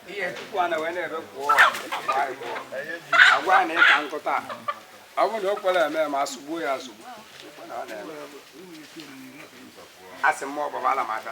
ihe tupu a na wee na-ebe pụọ agwa a na ịka nkụta ọ bụrụ na o kwere eme ma asụgbuo ya asụgbu asị m ọgbabala m aka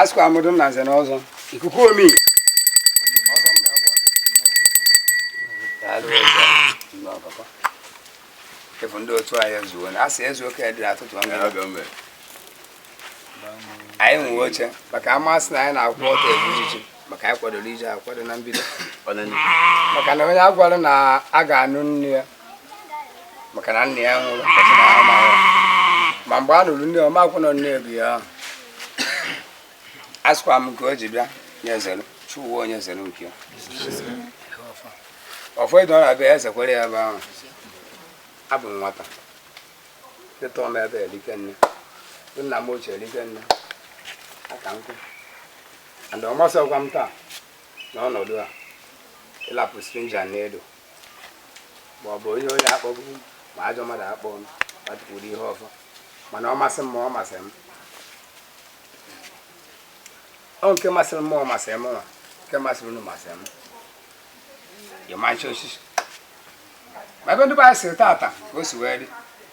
asịkwa amụdụ na nze na ọzọ ikuku omi efu ndị otu anyị ezuo na asị ezu oke dị atụtụ ọnụ anyị nwe oche maka amasị na anyị na-akwụ ọtọ ebu iji maka anyị kwadoro ije akwado na mbido maka na onye a gwara na a ga-anụ nne ya maka na nna ya nwụrụ ma mgbe a nụrụ nne ọma akwụnọ nne ego ya ahụ asịkwa m nke o ji bịa onye zere chụwa onye zere nke ya ọfọ ịdọ na-abịa eze kwere ya ebe ahụ abụ m nwata ịtọ m ebe erike nne nna m ochie erike nne aka nkụ and ọ masịkwa m taa n'ọnọdụ a ịlapụ stranger n'elu ma ọ bụ onye onye akpọbụ ma ajọ mmadụ akpọ m ma tukwuru ihe ọfọ mana ọ masị m ma ọ masịrị m ọ nke masịrị m ma ọ masịrị m nwa nke masịrị unu masịrị m ịmachi osisi ma ebe ndị be anyị siri tata ka o si wee dị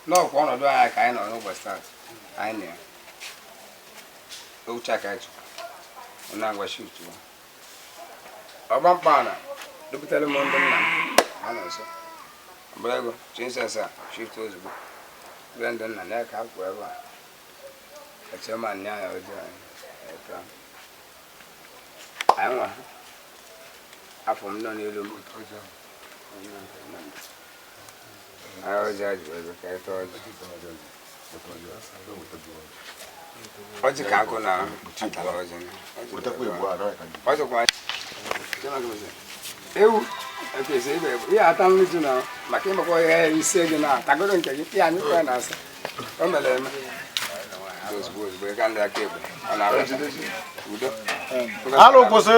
n'ọkwa ọnọdụ anyị ka anyị nọ n'ụbọchị tata anyị na ya ouche aka chukwu na ngwa shi utuwa ọgba mkpọala dupụtara m ndị nna m ha nọ nso mgbara ego chinsens a shift ozugbo bụrụ ndị nna na ya ka ha kwuo ebe a eche ma nne anya ojii anyị etu ahụ. anyị nwa afọ m nọ n'elu m anyị ọjị ajụ ebe ka anyị tọọ ọjị ọjị ka agụ na atara ọjị ọjịkwa ewu ekwesị ibe bụ ihe ata nri ji na maka ịmakwa ihe ise gị na atagoro nke gị ya anyị kwere na asa o mere eme ozugbo ozugbo ịga ndị aka ekpe ọ na-arụ udo arụ kwụsị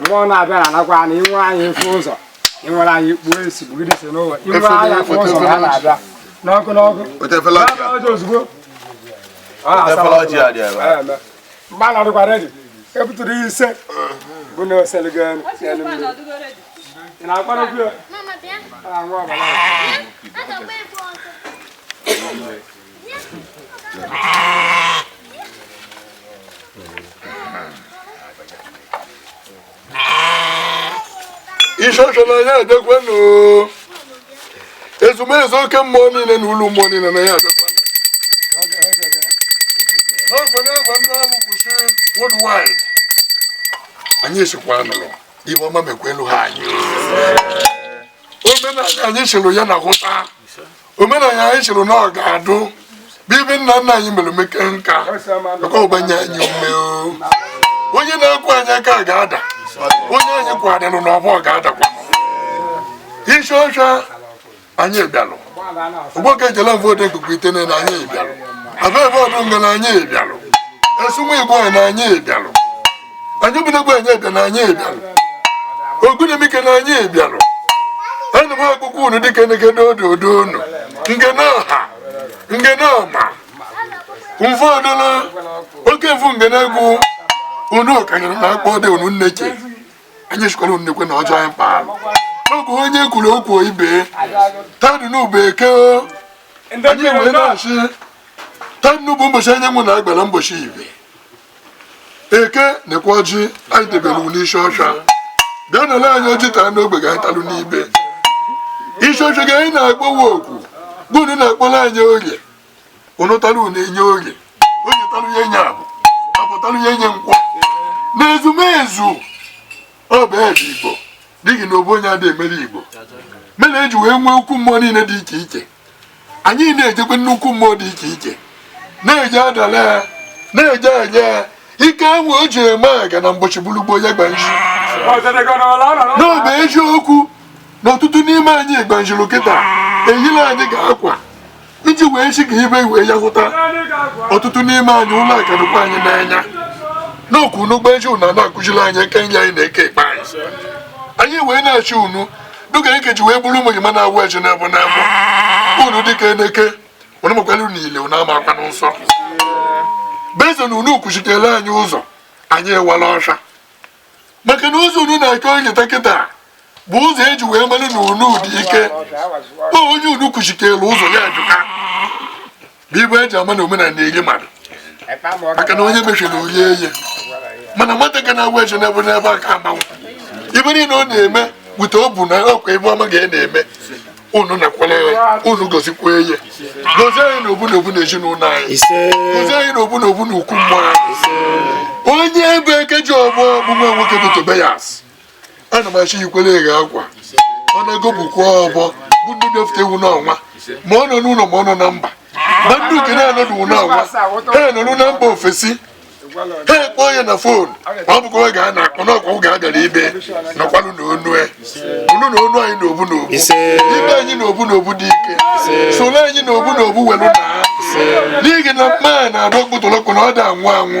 mmụọ na-abịa na-anakwa na inwe anyị efe ụzọ inwere anyị kpuo isi bugide isi n'ụwa inwe anyị afọ ụzọ ha na-abịa n'ọkụ n'ọkụ ọjọ ozugbo mgbe a nọdụkwa redi ebutụrụ ise bụ na oseligo elu ị na-akparakwu ya isosola ya abịakwanụ ezumezu oke mmụọ niile na ụlọ mmụọ niile na ya abịakwanụ n'ofe n'ebe ndị ọrụ kwụsị worldwide anyị sịkwa nụrụ ibe ọma mekwa elu ha anyị omenala anyị sịrị ya na hụta omenala anyị sịrị na ọ ga-adụ bibi nna nna anyị mere meke nka maka ọgbanye anyị ume onye na-ekwu anyị aka ga-ada onye anyị kwadịrụ na ọbụ ga-adakwa isi ọcha anyị bịalụ ụgbọka ejela vootu ikuku itene na anyị bịalụ abịa vootu ngana anyị bịalụ esumu igbo na anyị bịalụ anyị bụnagwa anyị bịa na anyị bịara ogunimike na anyị bịara ana m akpọku unu dịka nekede odo odo unu ngene ọha ngene ọma mfe ọdụla oke mfu ngene egwu unu kanyere na akpọ dị unu nne che anyị sịkwara unu nekwe ọjị anyị kpara n'oge onye kwuru okwu ibe taa dụnụ bụ eke anyị wee na-asị taa dụnụ bụ ụbọchị anyanwụ na agbara mbọchị ibe eke nekwa ọjị anyị debere unu isi ọcha bịa nara anyị ọjị taa n'ogbe ga anyị talụ n'ibe isi ọcha ga anyị na-akpọwa oku bụ unu na-akpọrọ anyị ọjị unu tara unu enye orie orie tara ya enye afọ afọ tara ya enye nkwọ na ezumezu ọ bụ ebe igbo dịghị na obu onye adị emere igbo mere eji wee nwee ukwu mmụọ niile dị iche iche anyị na-ejekwa nnukwu mmụọ dị iche iche na-eje adala ya na-eje enye ya ike enwe o ji eme aga na mgbochi gburugbo ya gbanji n'obe eziokwu na ọtụtụ n'ime anyị gbanjiri kịta ehile anyị ga-akwa iji wee chi ka ibe iwe ya hụta ọtụtụ n'ime anyị ụlọ akadụkwa anyị n'anya n'okwu n'ụgbọ eji unu na-akụziri anyị eke nri anyị na-eke ikpe anyị anyị wee na-asị unu dịka eke ji wee bụrụ ụmụ gị ma na-awa ọjị n'ebe n'ebe unu dịka eneke unu makwara unu ile unu ama akwa n'ụsọ beze na unu kwuchitere anyị ụzọ anyị ewala ọsha maka na ụzọ unu na-eke oge taa kịta bụ ụzọ eji wee mara na unu dị ike onye unu kwuchitere ụzọ ya ejuka bụ ibe eji ama na omenala na-enye mmadụ maka na onye mechiri orie eye mana nwata ga na-awa ọjị n'ebe n'ebe a ka amalụ ibe niile ọ na-eme hụta ọ bụ na ọkwa ebe ọma ga na-eme unu nakwala ya unu gozikwa eye gozie anyị na obu na obu na ezinụlọ anyị gozie anyị na obu na obu na ukwu mmụọ anyị onye ebe eke ji ọgbọ bụ nwa nwoke bụ Tobias ana m achị yikwere eghe akwa ọ na-ego bụkwa ọbọ bụ ndị bịafụta ewu n'ọnwa ma ọ nọ n'ụlọ ma ọ nọ na mba ma ndị uke na-anọdụ n'ọnwa ha nọrụ na mba ofesi ha akpọọ ya na fon ma ọ bụkwa oge a na-akpọ n'ọkwa oge a bịara ibe nọkwanụ na onu e. unu na onu anyị na obu na obu ibe anyị na obu na obu dị ike soro anyị na obu na obu welu na n'ihi na mma na-adọ kpụtụlọkụ na ọ da anwụ anwụ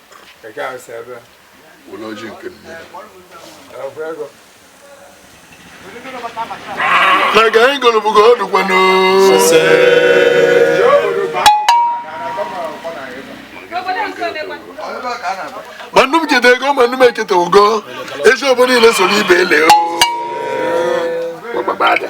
were ọjị nke nne na ka anyị gọrọ bụ ka ọ dụkwanụ mmadụ keta ego mmadụ eketa ego ezi obodo niile so n'ibe ele o gbagbagbada.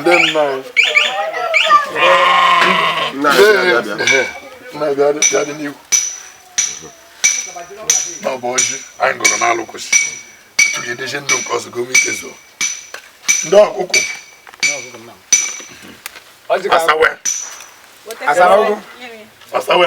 ndị nna na-abịadị n'ihu na ọ bụ ọjị anyị gọrọ n'alụ kwụsị tụrụ edeje ndị nke ọzọ gome ike zoo ndị ọkụkụ asawe asawe asawe